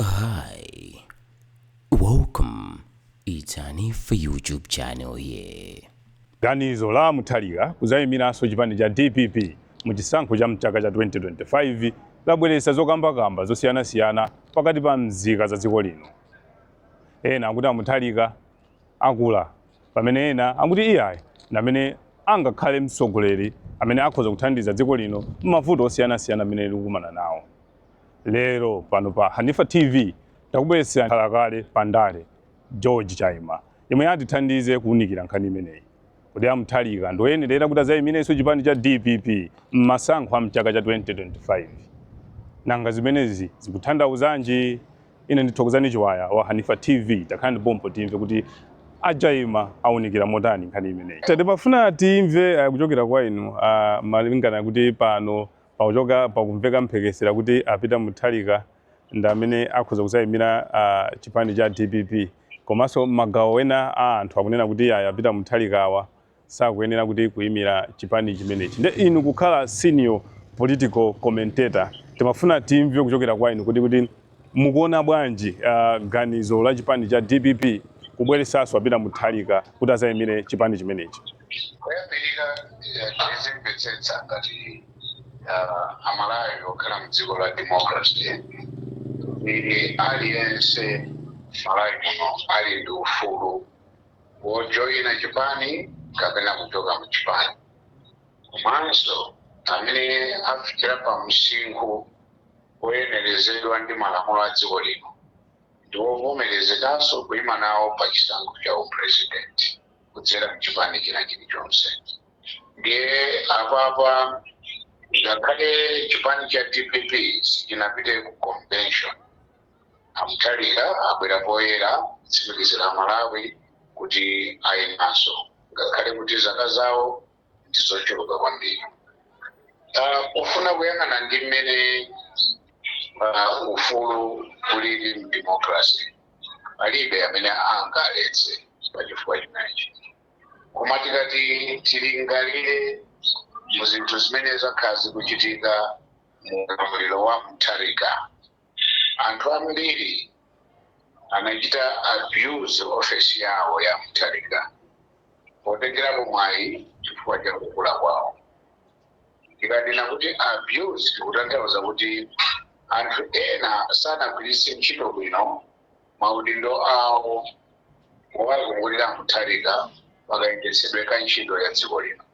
Hi, welcome. It's Hanifa YouTube channel here. Ganizo la Mutharika kudzaimiranso chipani cha dpp mu chisankho cha mchaka cha 2025 labweretsa zokambakamba zosiyanasiyana pakati pa mzika za dziko lino. Ena akuti a Mutharika akula pamene ena akuti iyayi ndi amene angakhale mtsogoleri amene akhoza kuthandiza dziko lino m'mavuto osiyanasiyana amene likukumana nawo. lero pano pa hanifa tv takubweretserani khalakale pa ndale George Chaima yemwe atithandize kuwunikira nkhani imeneyi kodi a Mutharika ndi oyenera kuti azayimirenso chipani cha dpp mmasankho a mchaka cha 2025 nanga zimenezi zikuthandauzanji ine ndi Thokozani Chiwaya wa hanifa tv takhala ndi pompo timve kuti a Chaima awunikira motani nkhani imeneyi timafuna timve uh, kuchokera kwa inu uh, malingana kuti pano Pakuchoka pakumveka mphekesera kuti a Peter Mutharika ndi amene akhoza kudzayimira chipani cha dpp komanso magawo ena a anthu akunena kuti ayi a Peter Mutharika awa sakuyenera kuti kuyimira chipani chimenechi. Nde inu kukhala senior political commentator timafuna timve kuchokera kwa inu kuti kuti Mukuona bwanji uh, ganizo la chipani cha DPP kubweretsanso a Peter Mutharika kuti azayimire chipani chimenechi? Kuyambirira tizimvetsetsa eh, ngati uh, amalawi okhala mu dziko la democracy ili aliyense malawi muno ali ndi ufulu wojoyina chipani kapena kuchoka mu chipani komanso amene afikira pa msinkhu woyenerezedwa ndi malamulo a dziko lino ndi wovomerezekanso kuima nawo pa chisankho cha u president kudzera mchipani china chilichonse. Ndiye apapa ngakhale chipani cha dpp sichinapite ku convention a Mutharika abwera poyera kutsimikizira Amalawi kuti aimanso ngakhale kuti zaka zawo ndi zochuluka kwambiri Ah, pofuna kuyang'ana ndi mmene ah, ufulu ulili mdemokrasi palibe amene angaletse pachifukwa chimenechi koma tikati tilingalire mu zinthu zimene zakhala zikuchitika mu ulamuliro wa mutharika Anthu ambiri anachita abuse office yawo ya Mutharika potengerapo mwayi chifukwa cha kukula kwawo. Tikanena kuti abuse tikutanthauza kuti anthu ena sanagwiritse ntchito bwino maudindo awo owazungulira a Mutharika pakayendetsedwe ka ntchito ya dziko lino.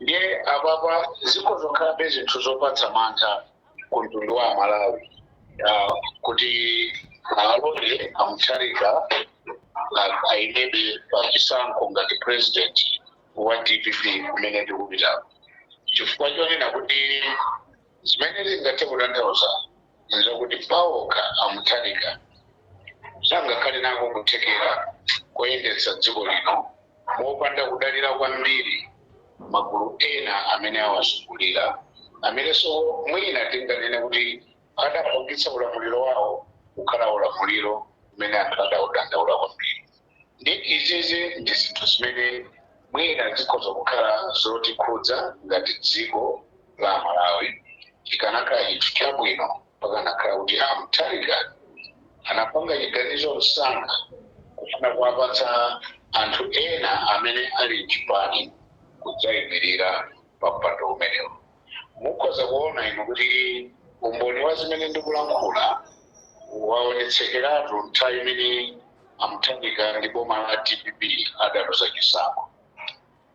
ndiye apapa zikhoza kukhalabe zinthu zopatsa mantha ku mtundu wa aMalawi Ah, kuti alole a Mutharika ah, ayimebe pa chisankho ngati president wa dpp kumene tikupitako chifukwa chonena kuti Zimene zingathe kutanthauza n'zakuti paokha a Mutharika sangakhale nako kuthekera koyendetsa dziko lino mopanda kudalira kwambiri magulu ena amene awazungulira, amenenso mwina tinganene kuti adapangitsa ulamuliro wawo kukhala ulamuliro umene anthu adaudandaula kwambiri. Nde izizi ndi zinthu zimene mwina zikhoza kukhala zotikhudza ngati dziko la Malawi chikanakhala chinthu chabwino pakanakhala kuti a Mutharika anapanga chiganizo msanga kufuna kuwapatsa anthu ena amene ali mchipani kudzaimilira pa mpando umenewu. Mukhoza kuona inu kuti umboni wa zimene ndikulankhula waonetsekeratu nthawi imene a Mutharika ndi boma la dpp adaluza chisankho.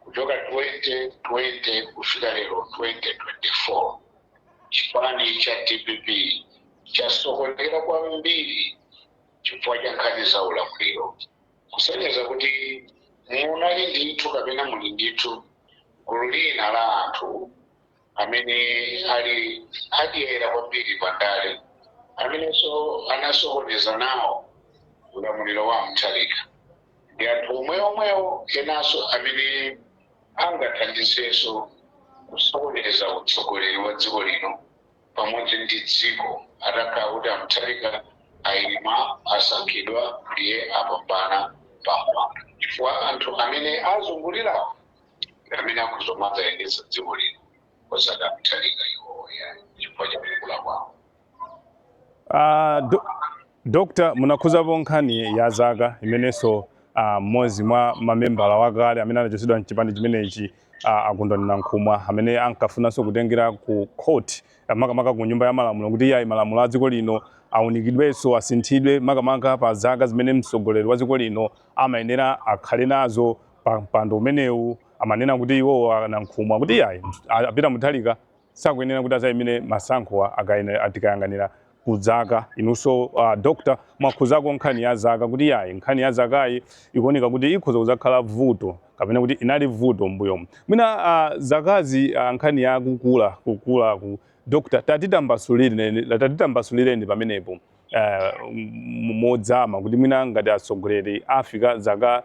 Kuchoka 2020 kufika lero 2024, chipani cha dpp chasokonekera kwambiri chifukwa cha nkhani za ulamuliro. kusonyeza kuti munali ndithu kapena muli ndithu gulu lina la anthu amene ali adyera kwambiri pa ndale amenenso anasokoneza nawo ulamuliro wa Mutharika ndi anthu omwe omwewo enanso amene angathandizenso kusokoneza utsogoleri wa dziko lino pamodzi ndi dziko atakhala kuti a Mutharika ayima, asankhidwa ndiye apambana pa mpando chifukwa anthu amene awazungulirawo ndi amene akhoza kumadzayendetsa dziko lino osati a Mutharika iwowo yayi chifukwa cha kukula kwawo. Ah, do, Dr. Munakhuzapo nkhani ya zaka imenenso ah, mmodzi mwa mamembala wakale amene anachotsedwa mchipani chimenechi ah, a Kondwani Nankhumwa amene ankafunanso kutengera ku court ah, makamaka ku nyumba ya malamulo kuti iyayi malamulo a dziko lino aunikidwenso asinthidwe makamaka pa zaka zimene mtsogoleri wa dziko lino amayenera akhale nazo pa mpando umenewu amanena kuti iwowo a Nankhumwa kuti iyayi a- a Peter Mutharika sakuyenera kuti azayimire masankhowa tikayang'anira ku zaka inunso uh, doctor mwakhuzako nkhani ya zaka kuti yayi nkhani ya zakayi ikuoneka kuti ikhoza kuzakhala vuto kapena kuti inali vuto m'mbuyomu mwina uh, zakazi uh, nkhani ya kukula kukula ku doctor tatitambasulireni tatitambasulireni pamenepo eh, mu- modzama kuti mwina ngati atsogoleri afika zaka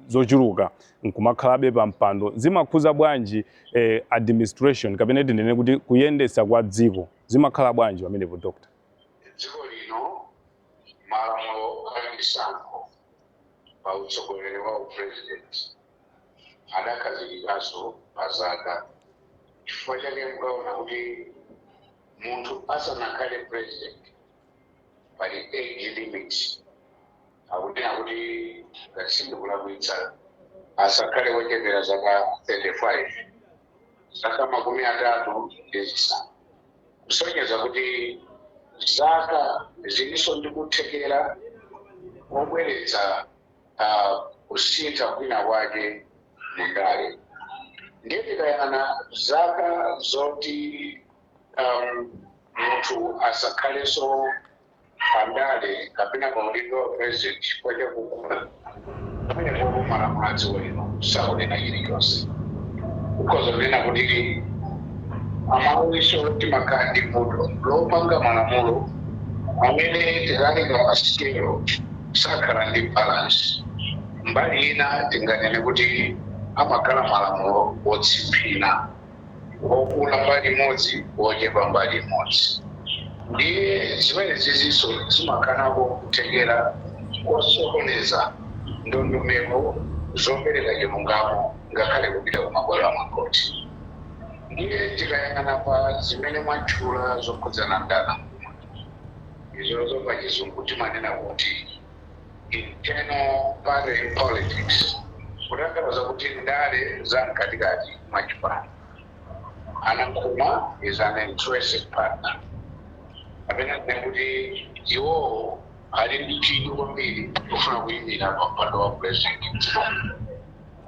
zochuluka nkumakhalabe pa mpando zimakhuza bwanji eh, administration kapena tinene kuti kuyendetsa kwa dziko zimakhala bwanji pamenepo doctor dziko lino malamulo a chisankho pa utsogoleri wa upresident adakhazikikaso pa zaka chifukwa chake mukaona kuti Munthu asanakhale president pali age limit akunena kuti ngati sindikulakwitsa asakhale wochepera zaka 35, zaka makumi atatu ndi zisanu, kusonyeza kuti zaka zilinso ndi kuthekera kobweretsa. uh, kusintha kwina kwake mundale ndiye tikayang'ana zaka zoti um, munthu asakhalenso pandale kapena pa udindo wa president chifukwa chakukula pamene popo malamulo a dziko lino sakunena chilichonse ukhoza kunena kuti amawiso timakhala ndi vuto lopanga malamulo amene tikaika pa sikelo sakhala ndi balance. Mbali ina tinganene kuti amakhala malamulo otsimphina, okula mbali imodzi ochepa mbali imodzi. Ndiye zimenezizinso zimakanako kuthekera kosokoneza ndondomeko zopereka chilungamo ngakhale kupita ku mabwalo a makhothi. Ndiye tikayang'ana pa zimene mwatchula zokhudzana ndalama. izozo pachizungu timanena kuti internal party politics kutanthauza kuti ndale za mkatikati mwa chipani. A Nankhumwa is an interested partner kapena tinene kuti iwowo ali ndi chidwi kwambiri chofuna kuyimira pa mpando wa president mdziko muno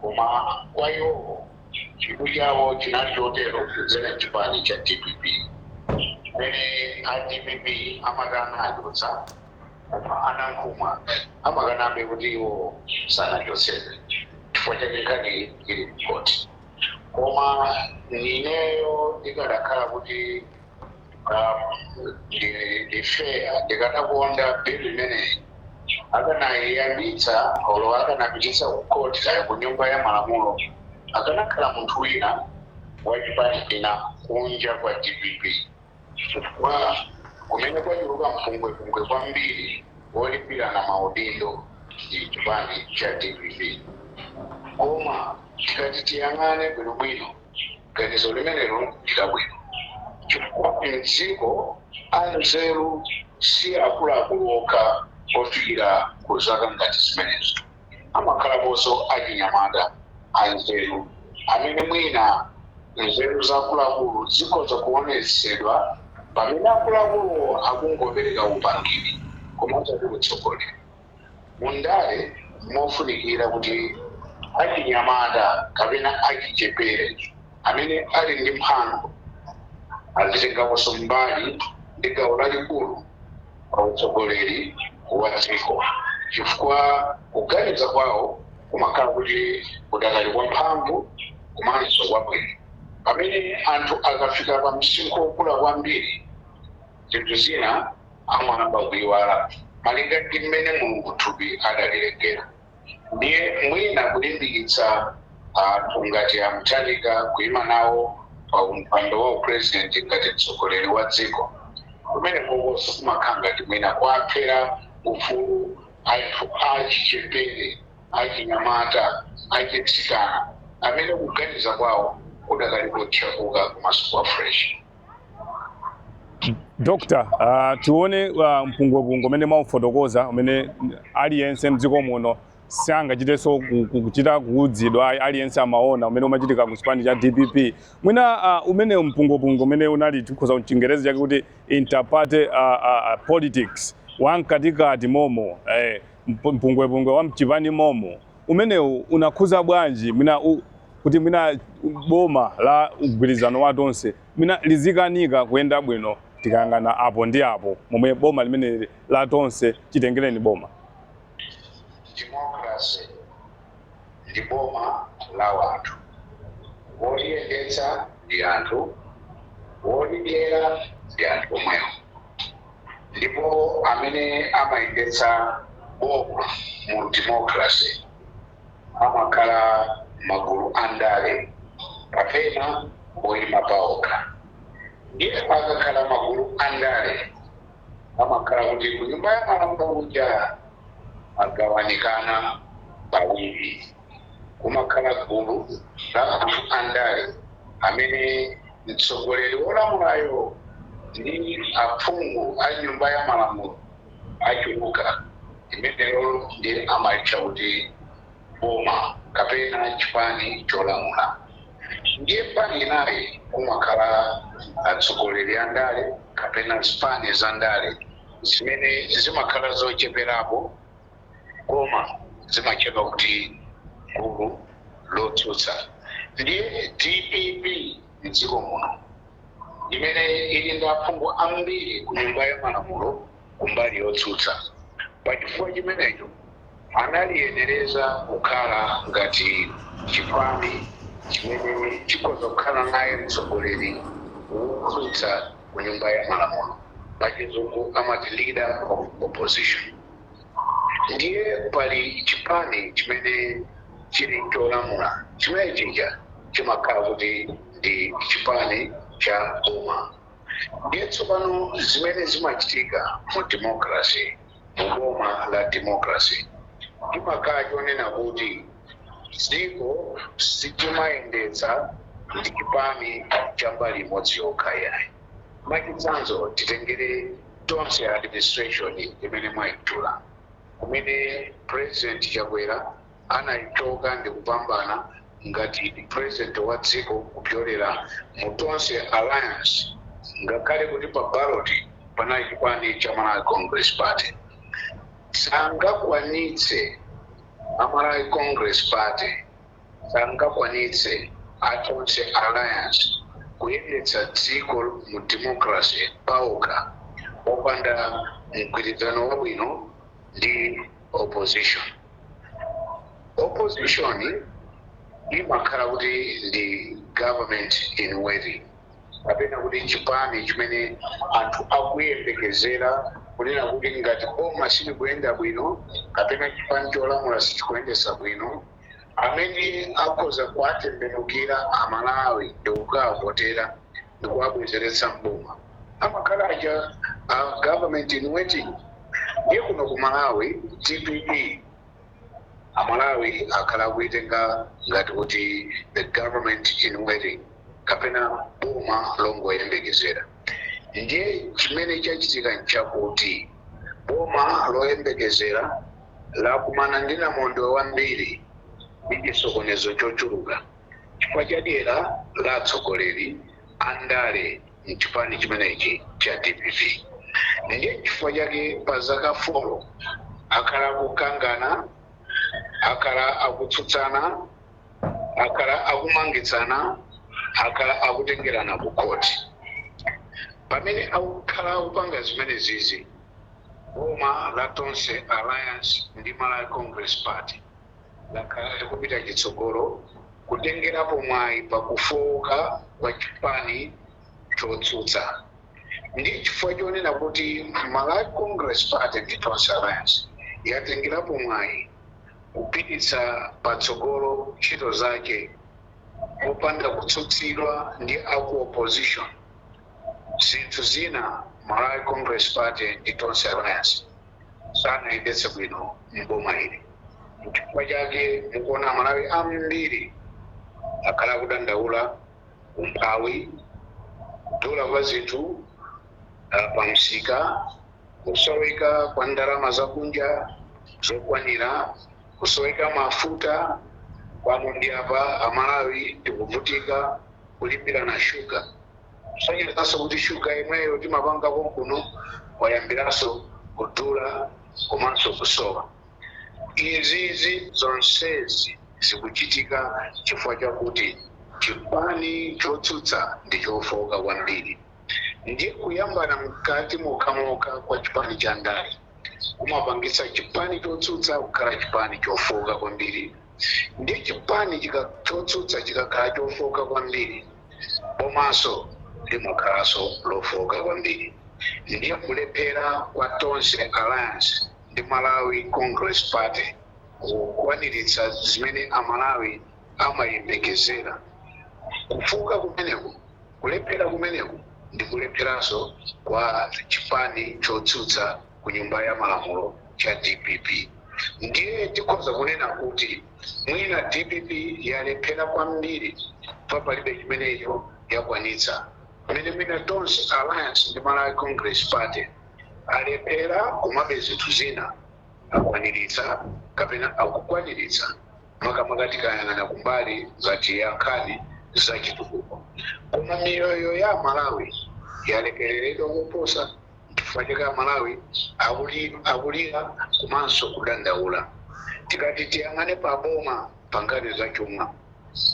koma kwa iwowo Chidwi chawo chinali chotero kudzera m'chipani cha dpp chimene a dpp amati anachotsa koma a Nankhumwa amakanabe kuti iwo sanachotsedwe n'chifukwa chake nkhaniyi ili kukhoti. Koma ineyo ndikadakhala kuti. um, ndi- ndi fair ndikadakonda bill imeneyi akanayiyambitsa olo akanapititsa ku court kaya ku nyumba ya malamulo akanakhala munthu wina wa chipani china kunja kwa dpp chifukwa kumene kwachuluka mpungwepungwe kwambiri wolimbirana maudindo ndi chipani cha dpp koma tikati tiyang'ane bwinobwino Ganizo limenelo ndi labwino chifukwa mdziko anzeru si akuluakulu okha ofikira ku zaka ngati zimenezo. Amakhalaponso achinyamata anzeru amene mwina nzeru za akuluakulu zikhoza kuonetsedwa pamene akuluakuluwo akungopereka upangiri koma osati utsogoleri. Mu ndale m'mofunikira kuti achinyamata kapena achichepere amene ali ndi mphamvu azitengaponso mbali ndi gawo lalikulu pa utsogoleri wa dziko chifukwa kuganiza kwawo kumakhala kuti kudakali kwa mphamvu komanso kwabwino. Pamene anthu akafika pa msinkhu wokula kwambiri, zinthu zina. amayamba kuiwala malinga ndi mmene Mulungu thupi adalilengera. Ndiye mwina kulimbikitsa anthu ngati a Mutharika kuima nawo pa mpando wa u president ngati mtsogoleri wa dziko, kumenekokonso kumakhala ngati mwina kuwaphera ufulu anthu achichepere, achinyamata, achitsikana amene kuganiza kwawo kudakali kothyakuka komanso kwa fresh. Dr. Uh, tione uh, mpungwepungwe umene mwaufotokoza umene aliyense mdziko muno sangachitenso kuchita kuuzidwa aliyense amaona umene umachitika ku chipani cha DPP mwina uh, umene mpungwepungwe umene unali tikhoza mchingerezi chake kuti interparty uh, uh, politics wamkatikati momo eh, mpu- mpungwepungwe wa mchipani momo umenewu unakhuza bwanji mwina u, kuti mwina boma la mgwirizano wa tonse mwina lizikanika kuyenda bwino tikayang'ana apo ndi apo momwe boma limene la tonse chitengereni boma democracy ndi boma la wanthu woliyendetsa ndi anthu wolidyera ndi anthu omwewo ndipo amene amayendetsa boma mu democracy amakhala magulu a ndale kapena oyima paokha. Ndiye akakhala magulu a ndale amakhala kuti ku Nyumba ya Malamulo kuja agawanikana pawiri. kumakhala gulu la anthu andale amene mtsogoleri wolamulayo ndi aphungu a Nyumba ya Malamulo achuluka. Limenelo ndiye amalitcha kuti boma kapena chipani cholamula. Ndiye mbali inayi kumakhala atsogoleri andale kapena zipani zandale zimene zimakhala zocheperapo. koma zimatchedwa kuti gulu lotsutsa. Ndiye DPP mdziko muno imene ili ndi aphungu ambiri ku nyumba ya malamulo kumbali yotsutsa, pa chifukwa chimenecho analiyenereza kukhala ngati chipani chimene chikhoza kukhala naye mtsogoleri wotsutsa ku nyumba ya malamulo, pachizungu amati leader of opposition. Ndiye pali chipani chimene chili cholamula, chimene chija chimakhala kuti ndi chipani cha boma. Ndiye tsopano zimene zimachitika mu democracy, mu boma la democracy, chimakhala chonena kuti dziko silimayendetsedwa ndi chipani cha mbali imodzi yokha iyayi. Mwachitsanzo titengere. Tonse Administration imene mwaitchula kumene President Chakwera anaichoka ndikupambana ngati president wa dziko kupyolera mu Tonse Alliance ngakhale kuti pa ballot panali chipani cha Malawi Congress Party sangakwanitse a Malawi Congress Party sangakwanitse a Tonse Alliance kuyendetsa dziko mu democracy paokha opanda mgwirizano wabwino ndi opposition. Opposition imakhala kuti ndi government in waiting kapena kuti chipani chimene anthu akuyembekezera kunena kuti ngati boma silikuyenda bwino kapena chipani cholamula sichikuyendetsa bwino, amene akhoza kuwatembenukira a Malawi ndikukawavotera ndikuwabwezeretsa m'boma amakhala aja a government in waiting. Ndiye kuno ku Malawi DPP a Malawi akhala akuitenga ngati kuti the government in waiting kapena boma longoyembekezera. Ndiye chimene chachitika nchakuti boma loyembekezera. lakumana ndi namondwe wambiri ndi chisokonezo chochuluka chifukwa cha dyera la atsogoleri a ndale m'chipani chimenechi cha DPP. Ndiye chifukwa chake pa zaka folo akhala akukangana, akhala akutsutsana, akhala akumangitsana, akhala akutengerana kukhoti. Pamene akukhala kupanga zimenezizi, Boma la Tonse Alliance ndi Malawi Congress Party lakhala likupita chitsogolo kutengerapo mwayi pa kufooka kwa chipani chotsutsa. Ndi chifukwa chonena kuti Malawi Congress Party ndi Tonse Alliance yatengerapo mwayi kupititsa patsogolo ntchito zake popanda kutsutsidwa ndi a ku opposition. zinthu zina Malawi Congress Party ndi Tonse Alliance sanayendetse bwino m'boma ili. Nchifukwa chake mukuona Amalawi ambiri akhala akudandaula umphawi, kudula kwa zinthu ah, pa msika, kusoweka kwa ndalama zakunja zokwanira, kusoweka kwa mafuta pano ndi apa Amalawi tikuvutika kulimbirana shuga. kusonyezanso kuti shuga yemweyo timapanga konkuno wayambiranso kudula komanso kusowa. Izizi zonsezi zikuchitika chifukwa chakuti chipani chotsutsa ndi chofooka kwambiri ndiye kuyambana mkati mokhamokha kwa chipani cha ndale kumapangitsa chipani chotsutsa kukhala chipani chofooka kwambiri ndiye chipani chotsutsa chikakhala chofooka kwambiri bomanso limakhalanso lofooka kwambiri ndiye kulephera kwa Tonse Alliance ndi Malawi Congress Party kukwaniritsa zimene Amalawi amayembekezera. Kufooka kumeneku, kulephera kumeneku ndi kulepheranso kwa chipani chotsutsa ku Nyumba ya Malamulo cha dpp ndiye tikhoza kunena kuti. mwina dpp yalephera kwambiri chifukwa palibe chimenecho yakwanitsa pomwe mwina tonse alliance ndi malawi congress party alephera komabe zinthu zina akwaniritsa kapena akukwaniritsa makamaka tikayang'ana kumbali ngati ya nkhani za chitukuko koma miyoyo ya amalawi yalekereredwa koposa Nchifukwa chake Amalawi akulira komanso kudandaula. Tikati tiyang'ane pa boma pa nkhani za chuma,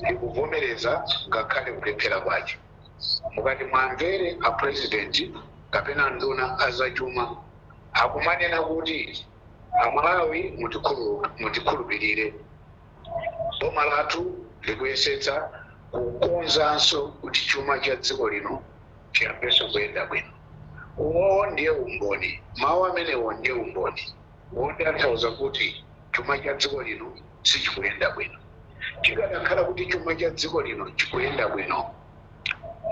likuvomereza ngakhale kulephera kwake. Mukati muwamvere a president kapena nduna ya za chuma akumanena kuti Amalawi mutikhulupirire, boma lathu likuyesetsa kukonzanso kuti chuma cha dziko lino chiyambenso kuyenda bwino. Uwo ndiye umboni, mawu amenewo ndiye umboni wotanthauza kuti chuma cha dziko lino sichikuyenda bwino. Chikadakhala kuti chuma cha dziko lino chikuyenda bwino,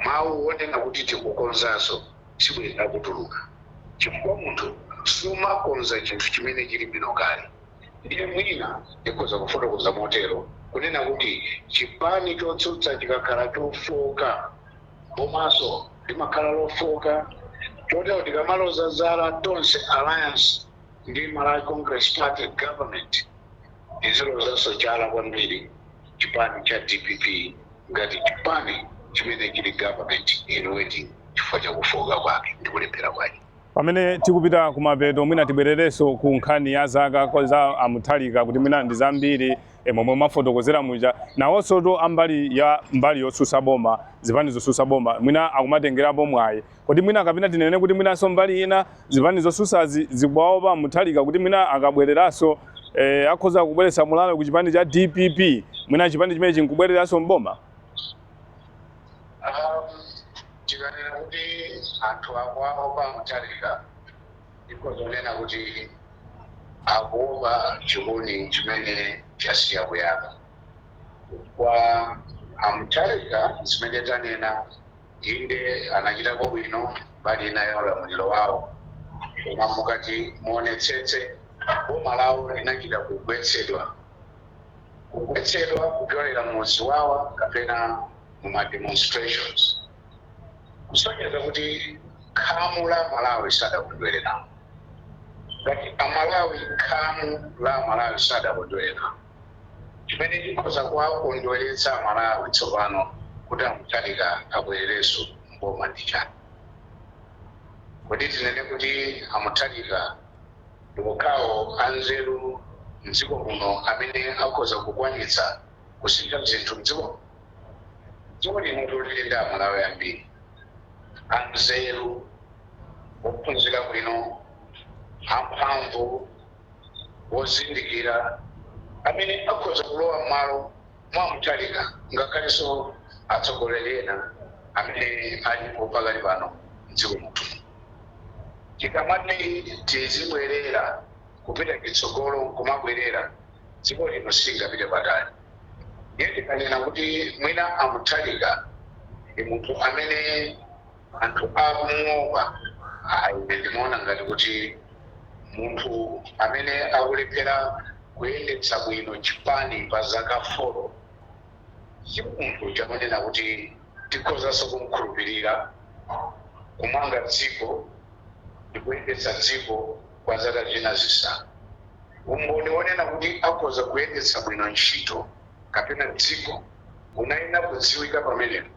mawu wonena kuti tikukonzanso sibwenda akutuluka chifukwa munthu sumakonza chinthu chimene chili bwino kale. Ndiye mwina ndikhoza kufotokoza motero, kunena kuti chipani chotsutsa chikakhala chofooka. bomaso limakhala lofooka chotero tikamaloza zala tonse alliance ndi Malawi Congress Party government tizilozaso chala kwambiri chipani cha DPP ngati chipani chimene chili government in waiting chifukwa cha kufooka kwake ndi kulephera kwake. Pamene tikupita kumapeto mwina tibwerereso ku nkhani ya zaka za a Mutharika kuti mwina ndi zambiri e, momwe mwafotokozera muja nawonsotu ambali ya mbali yosusa boma zipani zosusa boma mwina akumatengerapo mwayi kodi mwina kapena tinene kuti mwinanso mbali ina zipani zosusazi zikuwaopa Mutharika kuti mwina akabwereranso e, akhoza kubweretsa mulalo ku chipani cha DPP mwina chipani chimene chinkubwereranso mboma tikanena kuti anthu akuwaopa a Mutharika Tikhoza kunena kuti akuopa chikuni chimene chasiya kuyaka chifukwa a Mutharika zimene tanena inde anachitako bwino mbali ina ya ulamuliro wawo koma mukati muonetsetse boma lawo linachita kugwetsedwa kugwetsedwa kupyolera mu ziwawa kapena mu ma demonstrations. kusonyeza kuti khamu la Amalawi sadakondwere nawo. Ngati Amalawi, khamu la Amalawi sadakondwere nawo, chimene chikhoza kuwakondweretsa Amalawi tsopano kuti a Mutharika abwererenso m'boma ndi chani? Kodi tinene kuti a Mutharika ndi okhawo anzeru m'dziko muno amene akhoza kukwanitsa kusintha zinthu m'dziko muno? Dziko lino lili ndi Amalawi ambiri anzeru, ophunzira bwino, amphamvu, ozindikira amene akhoza kulowa m'malo mwa a Mutharika ngakhalenso atsogoleri ena amene alipo pakali pano m'dziko muno. Tikamati tizibwerera, kupita chitsogolo n'kumabwerera. dziko lino silingapite patali. Ndiye ndikanena kuti mwina a Mutharika ndi munthu amene anthu akumuopa, ayi ine ndimaona ngati kuti munthu amene akulephera kuyendetsa bwino chipani pa zaka folo si munthu uja wonena kuti tikhozanso kum'khulupirira kumanga dziko ndi kuyendetsa dziko. kwa zaka zina zisanu. Umboni wonena kuti akhoza kuyendetsa bwino ntchito kapena dziko unayenera kudziwika pamenepo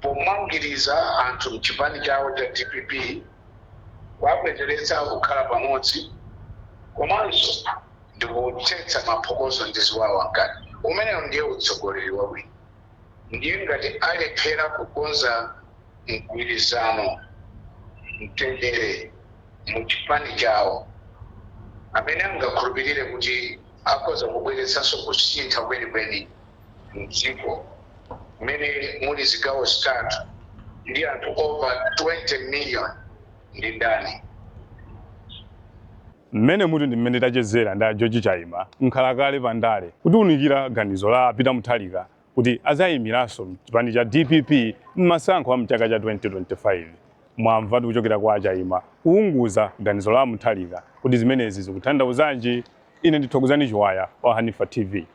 pomangiriza anthu m'chipani chawo cha dpp, kuwabwezeretsa kukhala pamodzi komanso ndikuthetsa maphokoso ndi ziwawa mkati. Umenewo ndiye utsogoleri wabwino. ndiye ngati alephera kukonza mgwirizano, mtendere mu chipani chawo, amene angakhulupirire kuti akhoza kubweretsanso kusintha kwenikweni mdziko mmene muli zigawo zitatu ndi anthu over 20 million ndi ndani? Mmenemutu ndi mmene tachezera ndi a George Chaima, mkhalakale pa ndale, kutiunikira ganizo la a Peter Mutharika kuti adzaimiranso chipani cha dpp m'masankho a m'chaka cha 2025. Mwamvatu kuchokera kwa a Chaima kuunguza ganizo la a Mutharika. Kodi zimenezi zikuthandauzanji? Ine ndi Thokozani Chiwaya wa Hanifa TV.